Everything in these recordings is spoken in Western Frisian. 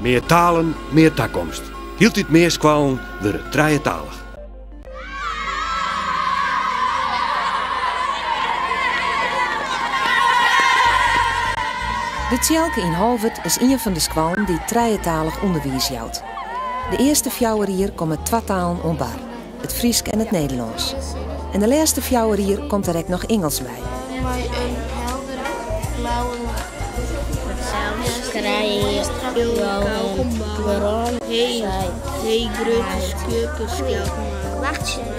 Mear talen, mear takomst. Hieltyd mear skoallen wurde trijetalich. De Tsjelke yn Holwert is ien fan de skoallen dy't trijetalich ûnderwiis jout. De earste fjouwer jier komme twa talen oan bar. it Frysk en it Nederlânsk. En de lêste fjouwer jier komt der ek noch Ingelsk by. Mei in heldere blauwe lucht. Sels krije jo in brân sei grutte skurke skeldmannen.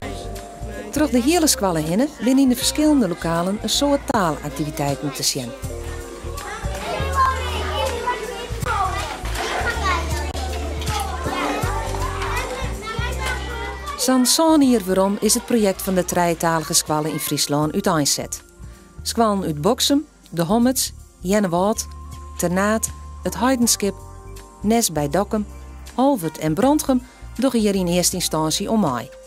Troch de hiele skoalle hinne binne yn de ferskillende lokalen in soad taalaktiviteiten te sjen. Sa'n sân jier werom is it projekt fan de trijetalige skoalle yn Fryslân úteinset. Skoallen út Boksum, De Hommerts, Earnewâld, Ternaard, It Heidenskip, Nes by Dokkum, Holwert en Brantgum dogge hjir yn earste ynstânsje oan mei.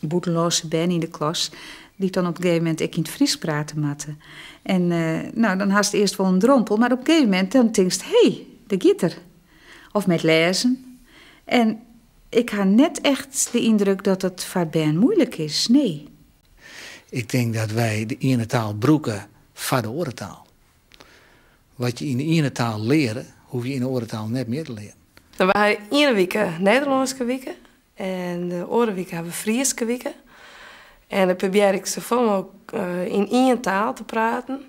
bûtenlânske bern yn de klas, dy't dan op in gegeven moment ek yn it Frysk prate moatte. En eh, nou, dan hast earst wol in drompel, mar op in gegeven moment dan tinkst, hé, dêr giet er. Of mei it lêzen. En ik ha net echt de yndruk dat it foar bern moeilik is, nee. Ik tink dat wy de iene taal brûke foar de oare taal. Wat je yn de iene taal leare, hoef je yn de oare taal net mear te learen. We ha iene wike Nederlânske wike En de oare wike hawwe we Fryske wike. En dan probear ik safolle mooglik yn ien taal te praten.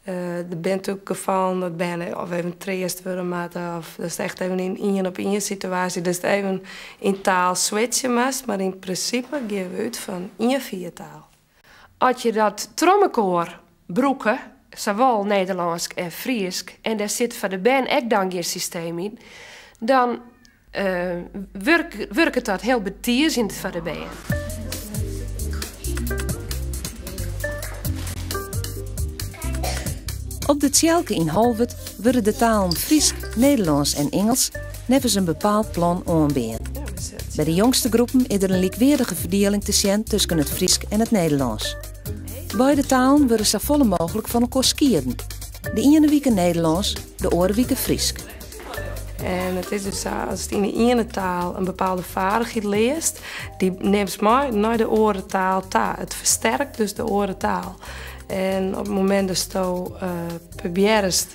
Der binne natuerlik gefallen dat bern of even treast wurde moatte of datst echt even yn ien op ien situaasje datst even in taal switsje moatst, mar yn prinsipe geane we út fan ien fiertaal. As je dat troch mekoar brûke, sawol Nederlânsk en Frysk, en dêr sit foar de bern ek dan gjin systeem yn, dan wurket dat hiel betiezjend foar de bern. Op de Tsjelke yn Holwert wurde de talen Frysk, Nederlânsk en Ingelsk neffens in bepaald plan oanbean. By de jongste groepen is der in lykweardige ferdieling te sjen tusken it Frysk en it Nederlânsk. Beide talen wurde safolle mooglik fan elkoar skieden. De iene wike Nederlânsk, de oare wike Frysk. En it is dus sa, ast yn de iene taal in bepaalde feardichheid learst, dy nimst mei nei de oare taal ta. It fersterket dus de oare taal. En op it moment dat je uh, eh, probeert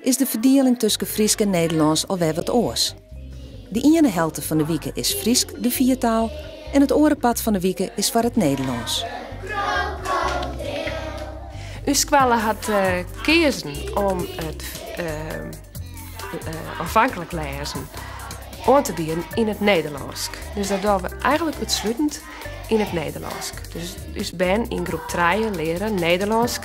is de ferdieling tusken Frysk en Nederlânsk al wer wat oars. De iene helte fan de wike is Frysk de fiertaal en it oare part fan de wike is foar it Nederlânsk. Us skoalle hat keazen om it oanfanklik lêzen oan te bieden yn it Nederlânsk. Dus dat dogge we eigenlik útslutend yn it Nederlânsk. Dus ús bern yn groep trije leare Nederlânsk.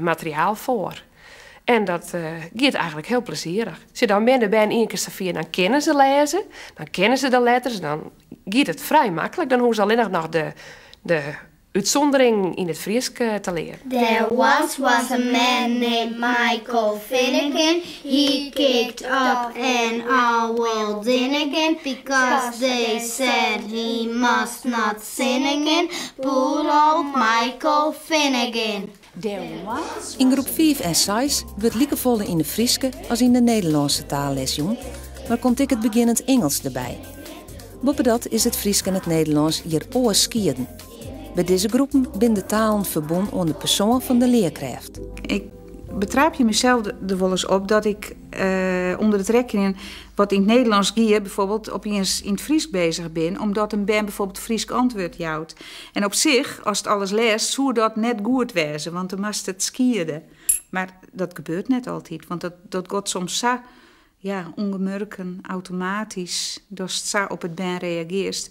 materiaal foar. En dat giet eigenlik hiel plezierich. As je dan binne de bern ien kear safier, dan kinne se lêze, dan kinne se de letters, en dan giet it frij maklik. Dan hoege se allinnich noch de útsûnderingen yn it Frysk te learen. There once was a man named Michael Finnegan He kicked up an awful din again Because they said he must not Singigin, poor old Michael Finnegan. Yn groep fiif en seis wurdt likefolle yn de Fryske as yn de Nederlânske taal les jûn, mar komt ek it begjinnend Ingelsk derby. Boppedat is it Frysk en it Nederlânsk hjir oars skieden. By dizze groepen binne de talen ferbûn oan de persoan fan de learkrêft. Ik betrapje mysels der wolris op dat ik ûnder it rekkenjen Wat yn it Nederlânsk gie, byfoarbeeld ynienen yn it Frysk bezich bin, omdat in bern byfoarbeeld Frysk antwurd jout. En op sich, ast it alles lêst, soe dat net goed wêze, want dan moatst it skiede. Mar dat gebeurt net altyd, want dat, dat got soms sa ja, ûngemurken, automatysk, datst sa op it bern reagearst,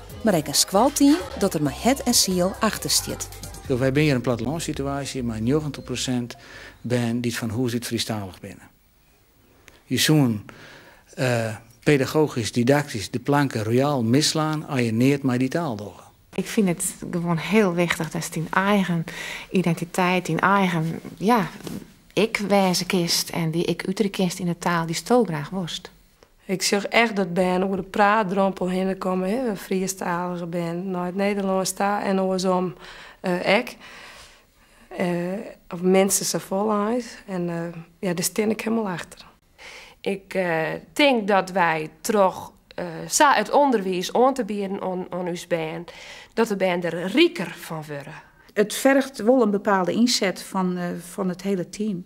mar ek in skoalteam dat der mei hert en siel achter stiet. Wy binne hjir in plattelânssituaasje mei njoggentich prosint bern dy't fan hûs út Frysktalich binne. Je soene pedagogysk, didaktysk de planke royaal misslaan as je neat mei dy taal dogge. Ik fyn it gewoan hiel wichtich datst dyn eigen identiteit, dyn eigen, ja, ik wêze kinst en dy ik uterje kinst yn de taal dy'sto graach wolst. Ik sjoch echt dat bern oer de praatdrompel hinne komme, Frysktalige bern nei it Nederlânsk ta en oarsom ek. Of minstens safolle eins. En ja, dêr stean ik hielendal achter. Ik tink dat wy troch sa it ûnderwiis oan te bieden oan ús bern, dat de bern der riker fan wurde. It fergt wol in bepaalde ynset fan it hiele team.